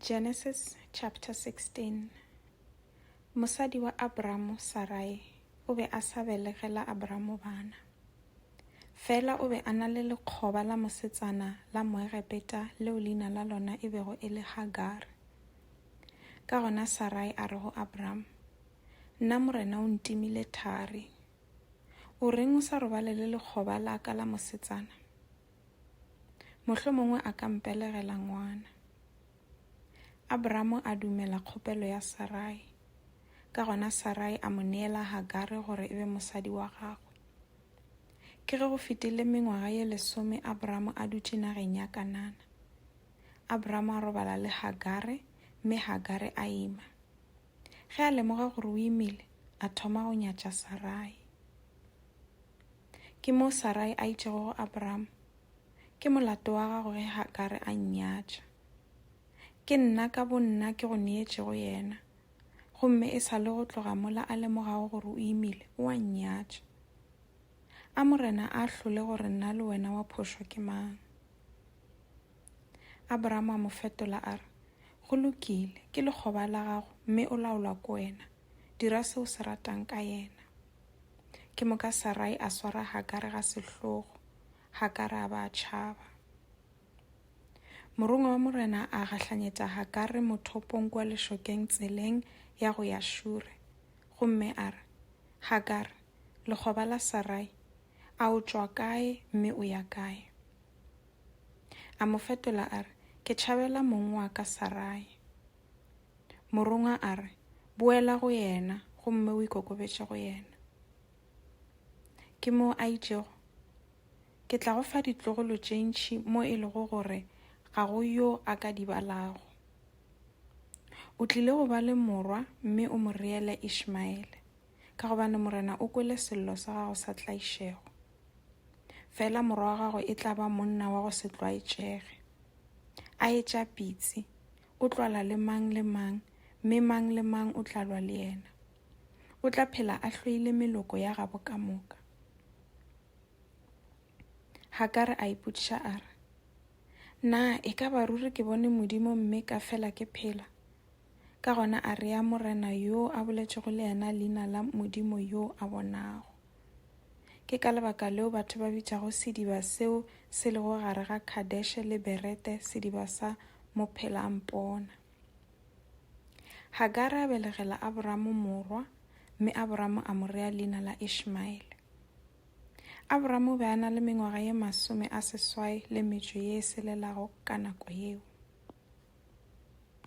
Genesis chapter 16 Mosadi wa Abramo, Sarai, o be a sa belegela Abramo bana. Fela o be a na le lekgoba la mosetsana la Moegepeta leo leina la lona e bego e le Hagar. Ka gona Sarai a re go Abramo, Nna morena o ntimile thari. O reng o sa robale le lekgoba la ka la mosetsana? Mohlomongwe a ka mpelegela ngwana. Abramo a dumela kgopelo ya Sarai, ka gona Sarai a mo neela Hagare gore e be mosadi wa gagwe. Ke ge go fetile mengwaga ye lesome Abramo a dutše nageng ya Kanana. Abramo a robala le Hagare mme Hagare a ima. Ge a lemoga gore o imile, a thoma go nyatša Sarai. Ke moo Sarai a itšego go Abraham, Ke molato wa gago ge Hagare a nnyatša. Ke nna ka bonna ke go neetšego yena, gomme e sa le go tloga mola a lemogago gore o imile, o a nnyatša. A Morena a ahlole gore nna le wena wa phošwa ke mang. Abraham a mo fetola a re, Go lokile, ke lekgoba la gago mme o laolwa ke wena. Dira se o se ratang ka yena. Ke moka Sarai a swara Hagare ga sehlogo, Hagare a ba a tšhaba. Morongwa wa Morena a gahlanyetša Hagare mothopong kua lešokeng tseleng ya go ya Šure, gomme a re, Hagare, lekgoba la Sarai, a o tšwa kae mme o ya kae? A mo fetola a re, Ke tšhabela mong wa ka Sarai. Morongwa a re, Boela go yena gomme o ikokobetše go yena. Ke moo a itšego, Ke tla go fa ditlogolo tše ntši mo e lego gore ga go yo a ka di balago. O tlile go ba le morwa mme o mo reele Ishmaele, ka gobane Morena o kwele sello sa gago sa tlaišego. Fela morwa wa gago e tla ba monna wa go se tlwaetšege, a etša pitsi, O tlo lwa le mang le mang, mme mang le mang o tla lwa le yena. O tla phela a hloile meloko ya gabo ka moka. Hagare a ipotšiša a re, Na e ka ba ruri ke bone Modimo mme ka fela ke phela? Ka gona a rea Morena yo a boletšego le yena leina la Modimo yo a bonago. Ke ka lebaka leo batho ba bitšago sediba seo se lego gare ga Kadeshe le Berete sediba sa Mophela-a-mpona. Hagare a belegela Aboramo morwa, mme Aboramo a mo rea leina la Ishmaele. Aboramo o be a na le mengwaga ye masome a seswai le metšo ye e selelago ka nako yeo.